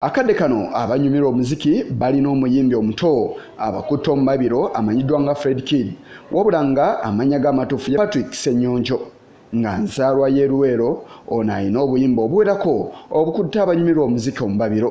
Akadde kano abanyumirwa omuziki balina omuyimbi omuto abakutte omubabiro amanyiddwa nga Fred Kid wabula nga amannya ge amatuufu ye Patrick Ssenyonjo nga nzaalwa y'e Luweero ono alina obuyimba obuwerako obukutte abanyumirwa omuziki omubabiro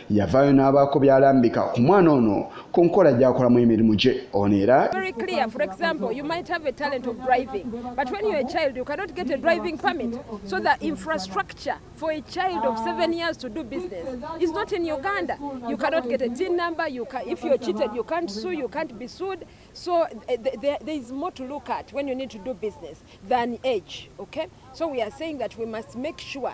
yavaayo n'abaako by'alambika ku mwana ono ku nkola gy'akolamu emirimu gye ono era So eh, there, there is more to look at when you need to do business than age, okay? So we are saying that we must make sure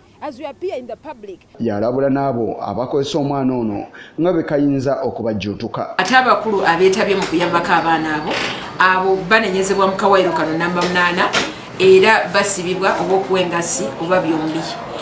Yalabula n'abo abakozesa omwana ono nga bwe kayinza okubajjuutuka. Ate abakulu abeetabye mu kuyambako abaana abo abo banenyezebwa mu kawayiro kano namba munaana era basibibwa oba okuwa engassi oba byombi.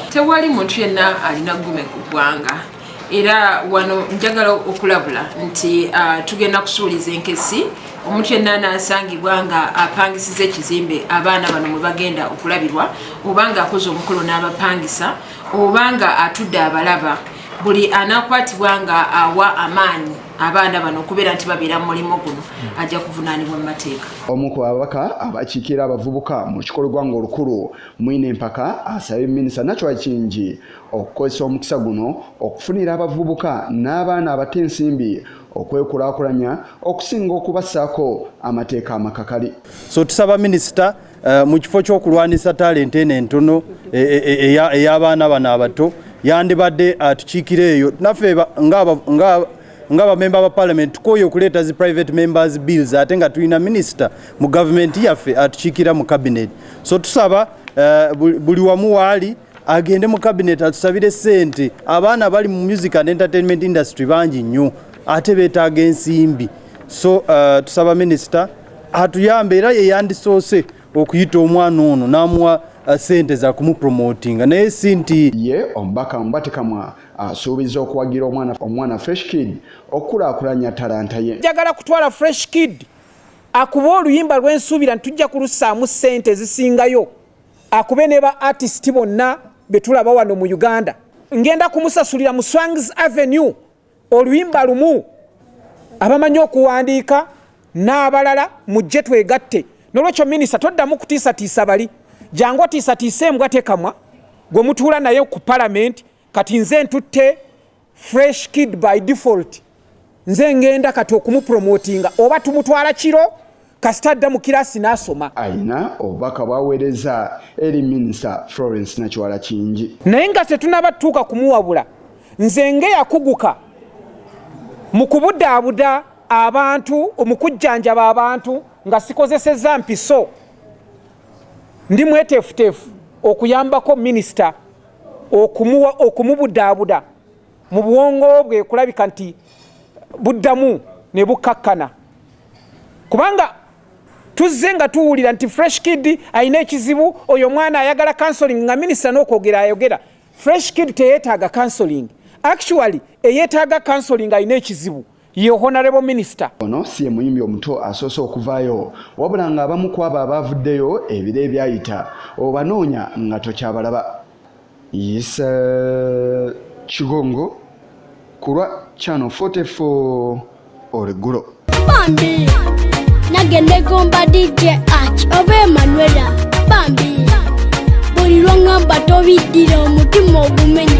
Tewali muntu yenna alina ggume ku ggwanga. era wano njagala okulabula nti uh, tugenda kusuuliza enkesi omuntu yenna anasangibwa nga apangisiza ekizimbe abaana bano mwe bagenda okulabirwa oba nga akoze omukolo n'abapangisa oba nga atudde abalaba buli anakwatibwa nga awa amaanyi abaana bano okubeera nti babeera mu mulimu guno ajja kuvunaanibwa mu mateeka omu ku babaka abakiikira abavubuka mu kikolwa ng'olukulu mwine empaka asabye minisita nakyo akingi okukozesa omukisa guno okufunira abavubuka n'abaana abato ensimbi okwekulakulanya okusinga okubassaako amateeka amakakali so tusaba minisita uh, mu kifo ky'okulwanisa talenti eno entono e, e, e, ey'abaana bano abato yandibadde atukiikira eyo naffe nga bamemba ba palamenti tukooye okuleeta zi private members bills ate nga tulina minisita mu gavumenti yaffe atukiikira mu kabineti so tusaba uh, buli wamu waali agende mu cabinet atusabire sente abaana bali mu music and entertainment industry bangi nnyo ate betaaga ensimbi so uh, tusaba minister atuyambe era yeyandisoose okuyita omwana ono n'amuwa uh, sente za kumupromotinga naye si nti ye omubaka mubatikamwa asuubiza okuwagira omwana omwana fresh kid okukulaakulanya talanta ye njagala kutwala fresh kid akuba oluyimba lwensuubira nti tujja kulusaamu sente ezisingayo Akube ne ba artist bonna betulaba wano mu Uganda. Ngenda kumusasulira mu Swangz Avenue oluyimba lumu abamanyi okuwandiika n'abalala mujje twegatte. Nolwekyo minisita toddamu kutiisatiisa bali. Jangu otiisatiise embwa tekamwa gwe mutuula naye ku palamenti kati nze ntutte fresh kid by default nze ngenda kati okumupromotinga oba tumutwala kiro kasita adda mu kirasi n'asoma alina obubaka bwaweereza eri minisita florence nakiwala kingi naye nga tetunaba tutuuka kumuwabula nze ngeyakuguka mu kubudaabuda abantu mu kujjanjaba abantu nga sikozesezza mpiso ndi mweteefuteefu okuyambako minisita okumuwa okumubudaabuda mu bwongo bwe kulabika nti buddamu ne bukkakkana kubanga tuzze nga tuwulira nti fresh kid alina ekizibu oyo omwana ayagala counseling nga minisita n'okwogera ayogera fresh kid teyeetaaga counseling actually eyeetaaga counseling alina ekizibu ye honarebo minisita ono si ye muyimbi omuto asoose okuvaayo wabula ng'abamu ku abo abaavuddeyo ebiro ebyayita obanoonya nga tokyabalaba yisa kigongo ku lwa chano 44 olweggulo bambi nage negomba dj ach oba emanuela bambi buli lwongamba tobiddira omutima ogumenya